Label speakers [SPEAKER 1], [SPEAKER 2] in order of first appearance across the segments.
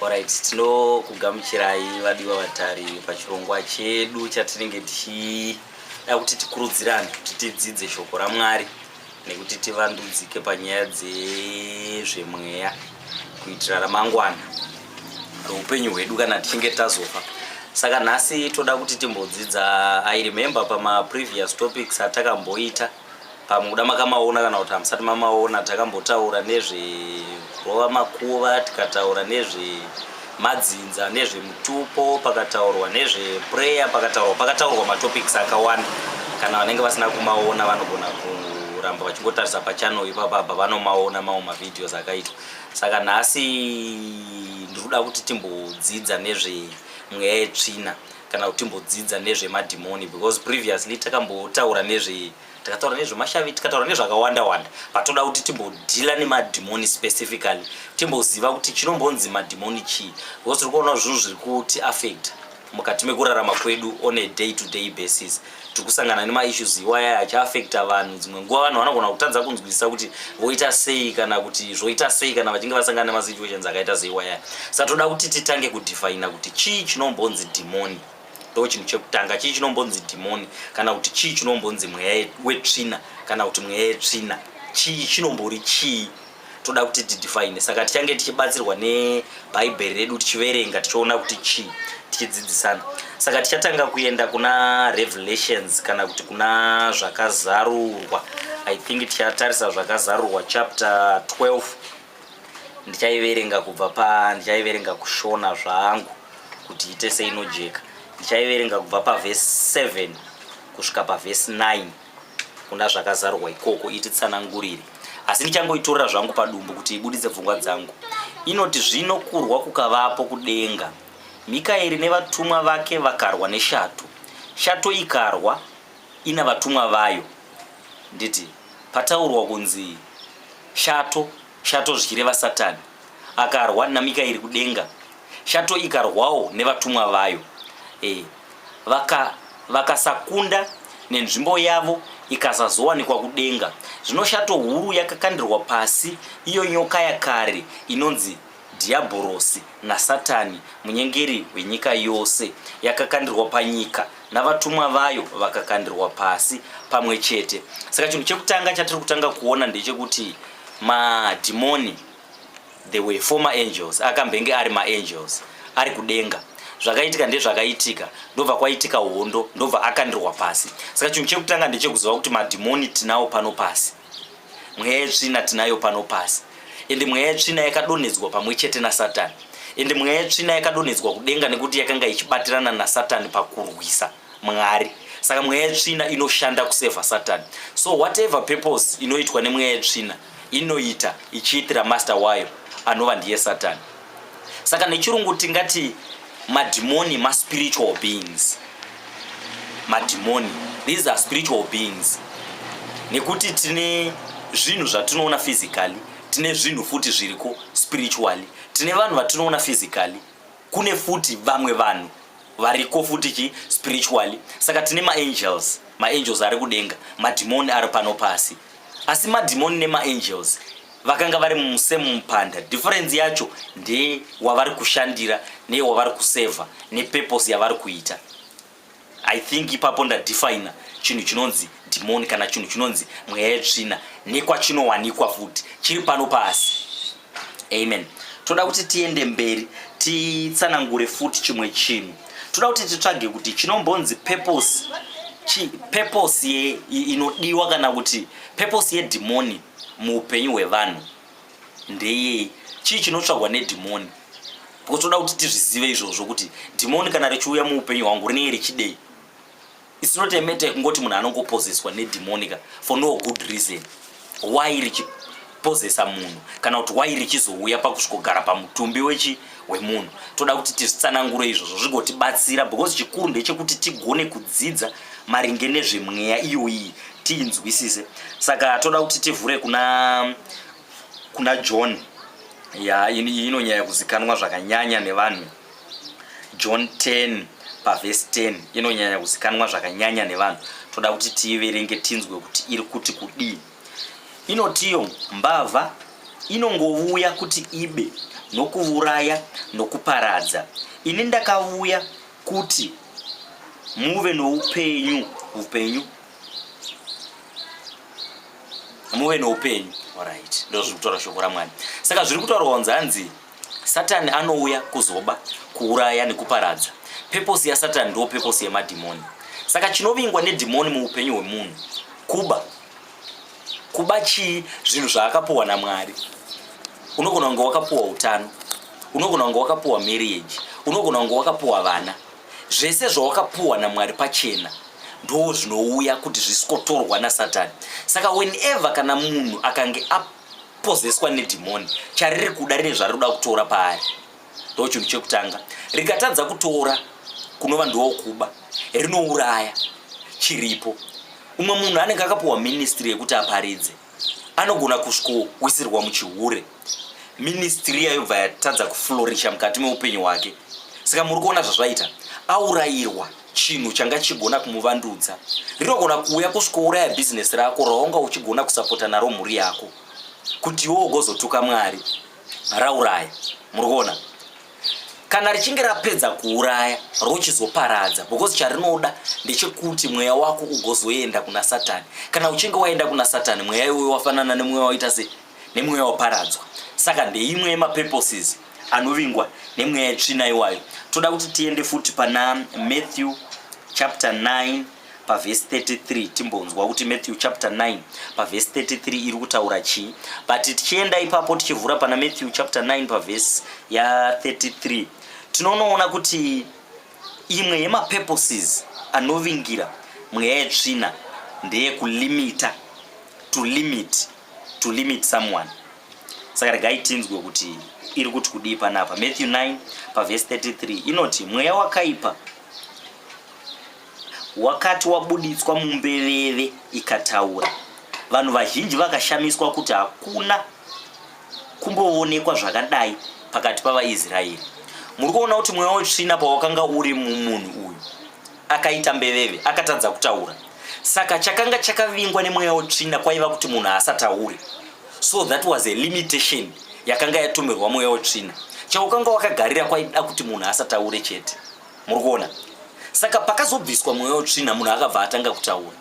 [SPEAKER 1] Alright, tinokugamuchirai vadiwa vatari pachirongwa chedu chatinenge tichida kuti tikurudzirane kuti tidzidze shoko raMwari nekuti tivandudzike panyaya dzezvemweya kuitira ramangwana roupenyu hwedu kana tichinge tazofa saka nhasi toda kuti timbodzidza i remember pamaprevious topics atakamboita pamwe kuda makamaona kana kuti hamusati mamaona takambotaura nezverova makuva tikataura nezvemadzinza nezvemutupo pakataurwa nezveprayer pakataurwa pakataurwa matopics akawanda kana vanenge vasina kumaona vanogona kuramba vachingotarisa pachannel ipapa apa vanomaona mamwe mavideos akaitwa saka nhasi ndiri kuda kuti timbodzidza nezvemweya yetsvina kana kuti timbodzidza nezvemadhimoni because previously takambotaura nezve takataura nezvemashavi tikataura nezvakawanda wanda but toda kuti timbodhila nemadhimoni specifically timboziva kuti chinombonzi madhimoni chii because tiri kuona zvinhu zviri kuti affect mukati mekurarama kwedu on a day to day basis tiri kusangana nemaissues iwaya achiafecta vanhu dzimwe nguva vanhu vanogona kutadza kunzwisisa kuti voita sei kana kuti zvoita sei kana vachinge vasangana nemasituations akaita seiwaya sa toda kuti titange kudefaina kuti chii chinombonzi dhimoni ndo chinhu chekutanga chii chinombonzi dhimoni kana kuti chii chinombonzi mweya wetsvina kana kuti mweya yetsvina chii chinombori chii toda kuti tidefine saka tichange tichibatsirwa nebhaibheri redu tichiverenga tichiona kuti chii tichidzidzisana saka tichatanga kuenda kuna revelations kana kuti kuna zvakazarurwa i think tichatarisa zvakazarurwa chapter 12 ndichaiverenga kubva pa ndichaiverenga kushona zvangu kuti ite seinojeka ndichaiverenga kubva pavhesi 7 kusvika pavhesi 9 kuna zvakazarwa ikoko ititsanangurire asi ndichangoitorera zvangu padumbu kuti ibuditse pfungwa dzangu inoti zvino kurwa kukavapo kudenga mikaeri nevatumwa vake vakarwa neshato shato ikarwa ina vatumwa vayo nditi pataurwa kunzi shato Shato zvichireva Satani akarwa naMikaeri kudenga, shato ikarwawo nevatumwa vayo e, vaka vakasakunda nenzvimbo yavo ikasazowanikwa kudenga. Zvino shato huru yakakandirwa pasi, iyo nyoka yakare inonzi Dhiyabhorosi naSatani, munyengeri wenyika yose, yakakandirwa panyika navatumwa vayo vakakandirwa pasi pamwe chete. Saka chinhu chekutanga chatiri kutanga kuona ndechekuti madhimoni, the way former angels, akambenge ari maangels ari kudenga zvakaitika ndezvakaitika ndobva kwaitika hondo ndobva akandirwa pasi saka chinhu chekutanga ndechekuziva kuti madhimoni tinawo pano pasi mweya yetsvina tinayo pano pasi ende mweya yetsvina yakadonhedzwa pamwe chete nasatani ende mweya yetsvina yakadonhedzwa kudenga nekuti yakanga ichibatirana nasatani pakurwisa mwari saka mweya yetsvina inoshanda kusevha satani so whatever purpose inoitwa nemweya yetsvina inoita ichiitira master wayo anova ndiye satani saka nechirungu tingati madhimoni maspiritual beings madhimoni these are spiritual beings nekuti tine zvinhu zvatinoona physically tine zvinhu futi zviriko spiritually tine vanhu vatinoona physically kune futi vamwe vanhu variko futi chi spiritually saka tine maangels maangels ari kudenga madhimoni ari pano pasi asi madhimoni nemaangels vakanga vari musame mupanda difference yacho ndeye wavari kushandira neye wavari kuseva nepurpose yavari kuita i think ipapo ndadefina chinhu chinonzi dhimoni kana chinhu chinonzi mweya yetsvina nekwachinowanikwa futi chiri pano pasi amen toda kuti tiende mberi titsanangure futi chimwe chinhu toda kuti titsvage kuti chinombonzi purpose purpose ye inodiwa kana kuti purpose yedhimoni muupenyu hwevanhu ndeyei chii chinotsvagwa nedhimoni because toda kuti tizvizive izvozvo kuti dhimoni kana richiuya muupenyu hwangu rinenge richidei its not a matter kungoti munhu anongopozeswa nedhimonika for no good reason why richipozesa munhu kana kuti why richizouya pakusvikogara pamutumbi wechi wemunhu toda kuti tizvitsanangure izvozvo zvigotibatsira because chikuru ndechekuti tigone kudzidza maringe nezvemweya iyoyi tiinzwisise saka toda kuti tivhure kuna kuna john ya inonyaya kuzikanwa zvakanyanya nevanhu john 10 pavhesi 10 inonyanya kuzikanwa zvakanyanya nevanhu toda kuti tiiverenge tinzwe kuti iri kuti kudii inotiyo mbavha inongovuya kuti ibe nokuvuraya nokuparadza ini ndakavuya kuti muve noupenyu upenyu muve noupenyu orit ndo zviri kutaura shoko ramwari saka zviri kutaurwa kunzi hanzi satani anouya kuzoba kuuraya nekuparadza peposi yasatani ndo peposi yemadhimoni saka chinovingwa nedhimoni muupenyu hwemunhu kuba kuba chii zvinhu zvaakapuwa namwari unogona kunge wakapuwa utano unogona kunge wakapuwa marriage unogona kunge wakapuwa vana zvese zvawakapuwa namwari pachena ndoo zvinouya kuti zvisikotorwa nasatani saka whenever kana munhu akange apozeswa nedhimoni chariri kuda rine zvariri kuda kutora paari ndochinhu chekutanga rikatadza kutora kunova ndiwo kuba rinouraya chiripo umwe munhu anenge akapuwa ministry yekuti aparidze anogona kusvikowisirwa muchihure ministry yayobva yatadza kuflorisha mukati meupenyu hwake saka muri kuona zvazvaita aurayirwa chinhu changa chigona kumuvandudza rinogona kuuya kusvikouraya bhizinesi rako raunga uchigona kusapota naro mhuri yako kuti iwo ugozotuka mwari rauraya muri kuona kana richinge rapedza kuuraya rochizoparadza because charinoda ndechekuti mweya wako ugozoenda kuna satani kana uchinge waenda kuna satani mweya iwoyo wafanana nemweya waita se nemweya waparadzwa saka ndeimwe yemapurposes anovingwa nemweya yetsvina iwayo toda kuti tiende futi pana matthew chapter 9 pavhesi 33 timbonzwa kuti matthew chapter 9 pavhesi 33 iri kutaura chii but tichienda ipapo tichivhura pana matthew chapter 9 pavhesi ya33 tinonoona kuti imwe yemapurposes anovingira mweya yetsvina ndeyekulimita to limit to limit someone saka regai tinzwe kuti iri kuti kudii panapa matthew 9 pavhesi 33 inoti mweya wakaipa wakati wabuditswa mumbeveve ikataura vanhu vazhinji vakashamiswa kuti hakuna kumboonekwa zvakadai pakati pavaisraeri muri kuona kuti mweya wetsvina pawakanga uri mumunhu uyu akaita mbeveve akatadza kutaura saka chakanga chakavingwa nemweya wetsvina kwaiva kuti munhu haasatauri so that was a limitation yakanga yatumirwa mweya wetsvina chaukanga wakagarira kwaida kuti munhu asataure chete muri kuona saka pakazobviswa mweya wetsvina munhu akabva atanga kutaura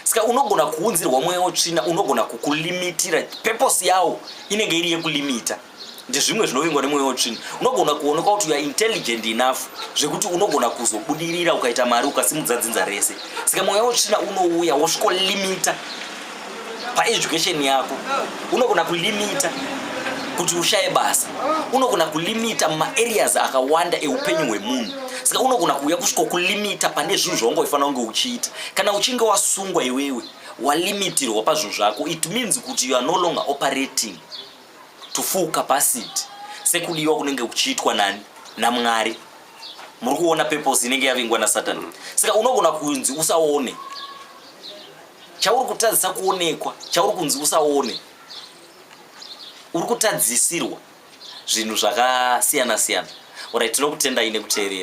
[SPEAKER 1] saka unogona kuunzirwa mweya wetsvina unogona kukulimitira peposi yawo inenge iri yekulimita ndezvimwe zvinovingwa nemweya wetsvina unogona kuonekwa kuti youare intelligent enough zvekuti unogona kuzobudirira ukaita mari ukasimudza dzinza rese saka mweya wetsvina unouya wosvikolimita paeducation yako unogona kulimita kuti ushaye basa unogona kulimita maareas akawanda eupenyu hwemunhu saka unogona kuuya kusvika kulimita pane zvinhu zvaunge uifanira kunge uchiita kana uchinge wasungwa iwewe walimitirwa pazvinhu zvako it means kuti you are no longer operating to full capacity sekudiwa kunenge kuchiitwa nani namwari muri kuona purpose inenge yavingwa nasatani saka unogona kunzi usaone chauri kutadzisa kuonekwa chauri kunzi usaone uri kutadzisirwa zvinhu zvakasiyana siyana orit tinokutendai nekuteerera